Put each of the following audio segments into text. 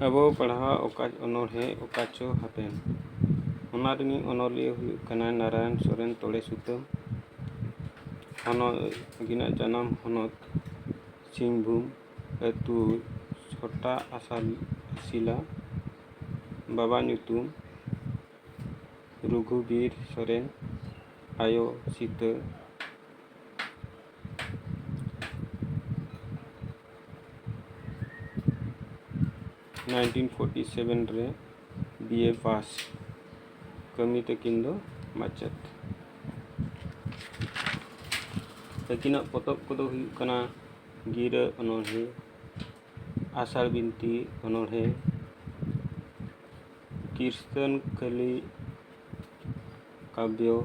ᱟᱵᱚ ᱯᱟᱲᱦᱟᱣ ᱚᱠᱟ ᱚᱱᱚᱬᱦᱮ ᱚᱠᱟ ᱪᱚ ᱦᱟᱯᱮᱱ ᱚᱱᱟ ᱨᱤᱱᱤᱡ ᱚᱱᱚᱞᱤᱭᱟᱹ ᱦᱩᱭᱩᱜ ᱠᱟᱱᱟᱭ ᱱᱟᱨᱟᱭᱚᱱ ᱥᱚᱨᱮᱱ ᱛᱚᱲᱮ ᱥᱩᱛᱟᱹᱢ ᱦᱚᱱᱚᱛ ᱩᱱᱠᱤᱱᱟᱜ ᱡᱟᱱᱟᱢ ᱦᱚᱱᱚᱛ ᱥᱤᱝᱵᱷᱩᱢ ᱟᱹᱛᱩ ᱪᱷᱚᱴᱟ ᱟᱥᱟᱞ ᱥᱤᱞᱟ ᱵᱟᱵᱟ ᱧᱩᱛᱩᱢ ᱨᱚᱜᱷᱩᱵᱤᱨ ᱥᱚᱨᱮᱱ ᱟᱭᱳ ᱥᱤᱛᱟᱹ ᱱᱟᱭᱤᱱᱴᱤᱱ ᱯᱷᱳᱨᱴᱤ ᱥᱮᱵᱷᱮᱱ ᱨᱮ ᱵᱤ ᱮ ᱯᱟᱥ ᱠᱟᱹᱢᱤ ᱛᱟᱹᱠᱤᱱ ᱫᱚ ᱢᱟᱪᱮᱫ ᱛᱟᱹᱠᱤᱱᱟᱜ ᱯᱚᱛᱚᱵ ᱠᱚᱫᱚ ᱦᱩᱭᱩᱜ ᱠᱟᱱᱟ ᱜᱤᱨᱟᱹ ᱚᱱᱚᱬᱦᱮ ᱟᱥᱟᱲ ᱵᱤᱱᱛᱤ ᱚᱱᱚᱬᱦᱮ ᱠᱤᱨᱥᱛᱟᱹᱱ ᱠᱟᱹᱞᱤ ᱠᱟᱵᱽᱭᱚ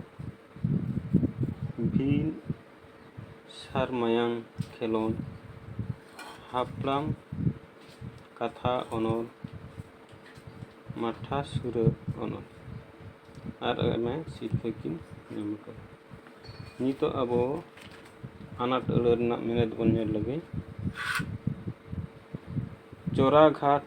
ᱵᱤᱱ ᱥᱟᱨ ᱢᱟᱭᱟᱝ ᱠᱷᱮᱞᱳᱰ ᱦᱟᱯᱲᱟᱢ ᱠᱟᱛᱷᱟ ᱚᱱᱚᱞ ᱢᱟᱴᱷᱟ ᱥᱩᱨᱟᱹ ᱚᱱᱚᱞ ᱟᱨ ᱟᱭᱢᱟ ᱥᱤᱨᱯᱷᱟᱹ ᱠᱤᱱ ᱧᱟᱢ ᱟᱠᱟᱫᱟ ᱱᱤᱛᱚᱜ ᱟᱵᱚ ᱟᱱᱟᱴ ᱟᱹᱲᱟᱹ ᱨᱮᱱᱟᱜ ᱢᱮᱱᱮᱛ ᱵᱚᱱ ᱧᱮᱞ ᱞᱮᱜᱮ ᱪᱚᱨᱟᱜᱷᱟᱴ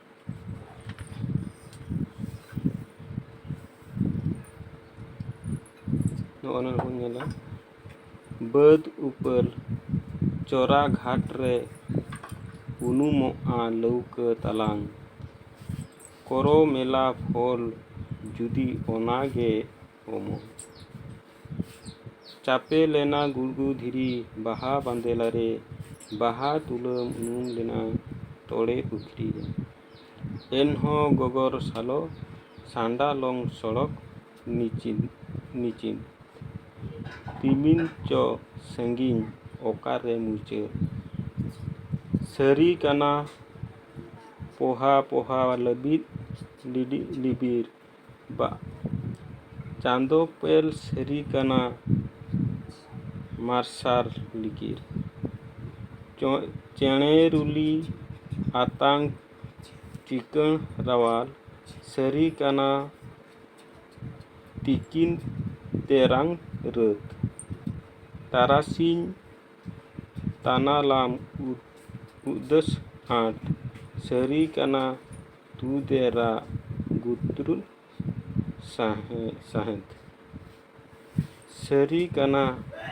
ᱱᱚᱜᱼᱚ ᱱᱚᱣᱟ ᱵᱚᱱ ᱧᱮᱞᱟ ᱵᱟᱹᱫᱽ ᱩᱯᱟᱹᱞ ᱪᱚᱨᱟ ᱜᱷᱟᱴ ᱨᱮ ᱩᱱᱩᱢᱚᱜᱼᱟ ᱞᱟᱹᱣᱠᱟᱹ ᱛᱟᱞᱟᱝ ᱠᱚᱨᱚ ᱢᱮᱞᱟ ᱯᱷᱚᱞ ᱡᱩᱫᱤ ᱚᱱᱟᱜᱮ ᱚᱢᱚᱨ ᱪᱟᱯᱮ ᱞᱮᱱᱟ ᱜᱩᱲᱜᱩ ᱫᱷᱤᱨᱤ ᱵᱟᱦᱟ ᱵᱟᱸᱫᱮᱞᱟ ᱨᱮ ᱵᱟᱦᱟ ᱛᱩᱞᱟᱹᱢ ᱩᱱᱩᱢ ᱞᱮᱱᱟ ᱛᱚᱲᱮ ᱯᱩᱠᱷᱨᱤ ᱨᱮ ᱮᱱᱦᱚᱸ ᱜᱚᱜᱚᱨ ᱥᱟᱞᱚ ᱥᱟᱱᱰᱟ ᱞᱚᱝ ᱥᱚᱲᱚᱠ ᱱᱤᱪᱤᱱ ᱱᱤᱪᱤᱱ ᱛᱤᱢᱤᱱ ᱪᱚ ᱥᱟᱺᱜᱤᱧ ᱚᱠᱟᱨᱮ ᱢᱩᱪᱟᱹᱫ ᱥᱟᱹᱨᱤ ᱠᱟᱱᱟ ᱯᱚᱦᱟ ᱯᱚᱦᱟ ᱞᱟᱹᱵᱤᱫ ᱞᱤᱵᱤᱨ ᱵᱟ ᱪᱟᱸᱫᱚ ᱯᱮᱞ ᱥᱟᱹᱨᱤ ᱠᱟᱱᱟ ᱢᱟᱨᱥᱟᱞ ᱞᱤᱜᱤᱨ ᱪᱚᱸᱜ ᱪᱮᱬᱮ ᱨᱩᱞᱤ ᱟᱛᱟᱝ ᱪᱤᱠᱟᱹᱬ ᱨᱟᱣᱟᱞ ᱥᱟᱹᱨᱤ ᱠᱟᱱᱟ ᱛᱤᱠᱤᱱ ᱛᱮᱨᱟᱝ ᱨᱟᱹᱛ ᱛᱟᱨᱟᱥᱤᱧ ᱛᱟᱱᱟᱞᱟᱢ ᱩᱫᱟᱹᱥ ᱟᱸᱴ ᱥᱟᱹᱨᱤ ᱠᱟᱱᱟ ᱛᱩᱫᱮᱨᱟ ᱜᱩᱛᱨᱩ ᱥᱟᱦᱮᱸᱫ ᱥᱟᱹᱨᱤ ᱠᱟᱱᱟ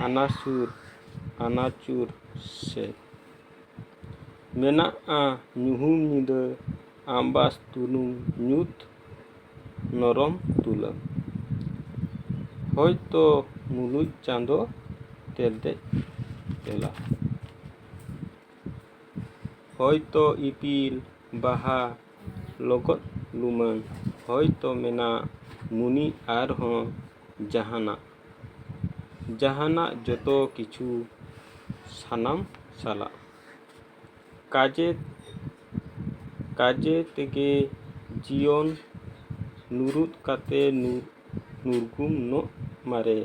ᱟᱱᱟ ᱥᱩᱨ ᱟᱱᱟ ᱪᱩᱨ ᱥᱮᱫ ᱢᱮᱱᱟᱜᱼᱟ ᱧᱩᱦᱩᱢ ᱧᱤᱫᱟᱹ ᱟᱢᱵᱟᱥ ᱛᱩᱱᱩᱢ ᱧᱩᱛ ᱱᱚᱨᱚᱢ ᱛᱩᱞᱟᱹᱢ ᱦᱚᱭᱛᱚ ᱢᱩᱞᱩᱡ ᱪᱟᱸᱫᱚ ᱛᱮᱞᱛᱮᱡ ᱛᱮᱞᱟ ᱦᱚᱭᱛᱚ ᱤᱯᱤᱞ ᱵᱟᱦᱟ ᱞᱚᱜᱚᱫ ᱞᱩᱢᱟᱹᱝ ᱦᱚᱭᱛᱚ ᱢᱮᱱᱟᱜ ᱢᱩᱱᱤ ᱟᱨ ᱦᱚᱸ ᱡᱟᱦᱟᱱᱟᱜ ᱡᱟᱦᱟᱱᱟᱜ ᱡᱚᱛᱚ ᱠᱤᱪᱷᱩ ᱥᱟᱱᱟᱢ ᱥᱟᱞᱟᱜ ᱠᱟᱡᱮ ᱠᱟᱡᱮ ᱛᱮᱜᱮ ᱡᱤᱭᱚᱱ ᱱᱩᱨᱩᱫ ᱠᱟᱛᱮ ᱱᱩᱨ ᱱᱩᱨᱜᱩᱢ ᱱᱚᱜ ᱢᱟᱨᱮ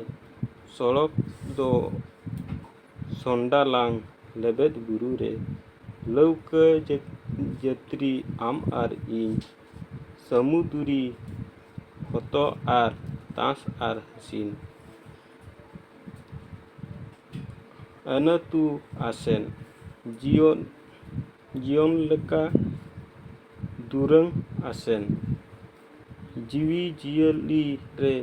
ᱥᱚᱲᱚᱠ ᱫᱚ ᱥᱚᱱᱰᱟᱞᱟᱝ ᱞᱮᱵᱮᱫ ᱵᱩᱨᱩ ᱨᱮ ᱞᱟᱹᱣᱠᱟᱹ ᱡᱟᱹᱛᱨᱤ ᱟᱢ ᱟᱨ ᱤᱧ ᱥᱟᱹᱢᱩᱫᱽᱨᱤ ᱦᱚᱛᱚᱫ ᱟᱨ ᱛᱟᱥ ᱟᱨ ᱥᱤᱢ ᱟᱹᱱᱟᱹᱛᱩ ᱟᱥᱮᱱ ᱡᱤᱭᱚᱱ ᱡᱤᱭᱚᱱ ᱞᱮᱠᱟ ᱫᱩᱨᱟᱹᱝ ᱟᱥᱮᱱ ᱡᱤᱣᱤ ᱡᱤᱭᱟᱹᱞᱤ ᱨᱮ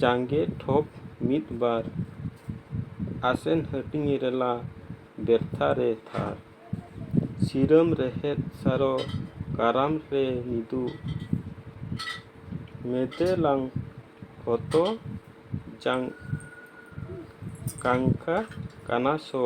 ᱡᱟᱸᱜᱮ ᱴᱷᱚᱯ ᱢᱤᱫ ᱵᱟᱨ ᱟᱥᱮᱱ ᱦᱟᱹᱴᱤᱧ ᱨᱮᱞᱟ ᱵᱮᱨᱛᱷᱟ ᱨᱮ ᱛᱷᱟᱨ ᱥᱤᱨᱟᱹᱢ ᱨᱮᱦᱮᱫ ᱥᱟᱨᱚ ᱠᱟᱨᱟᱢ ᱨᱮ ᱢᱤᱫᱩ ᱢᱮᱫᱮᱞᱟᱝ ᱦᱚᱛᱚ ᱡᱟᱝ ᱠᱟᱝᱠᱟ ᱠᱟᱱᱟᱥᱚ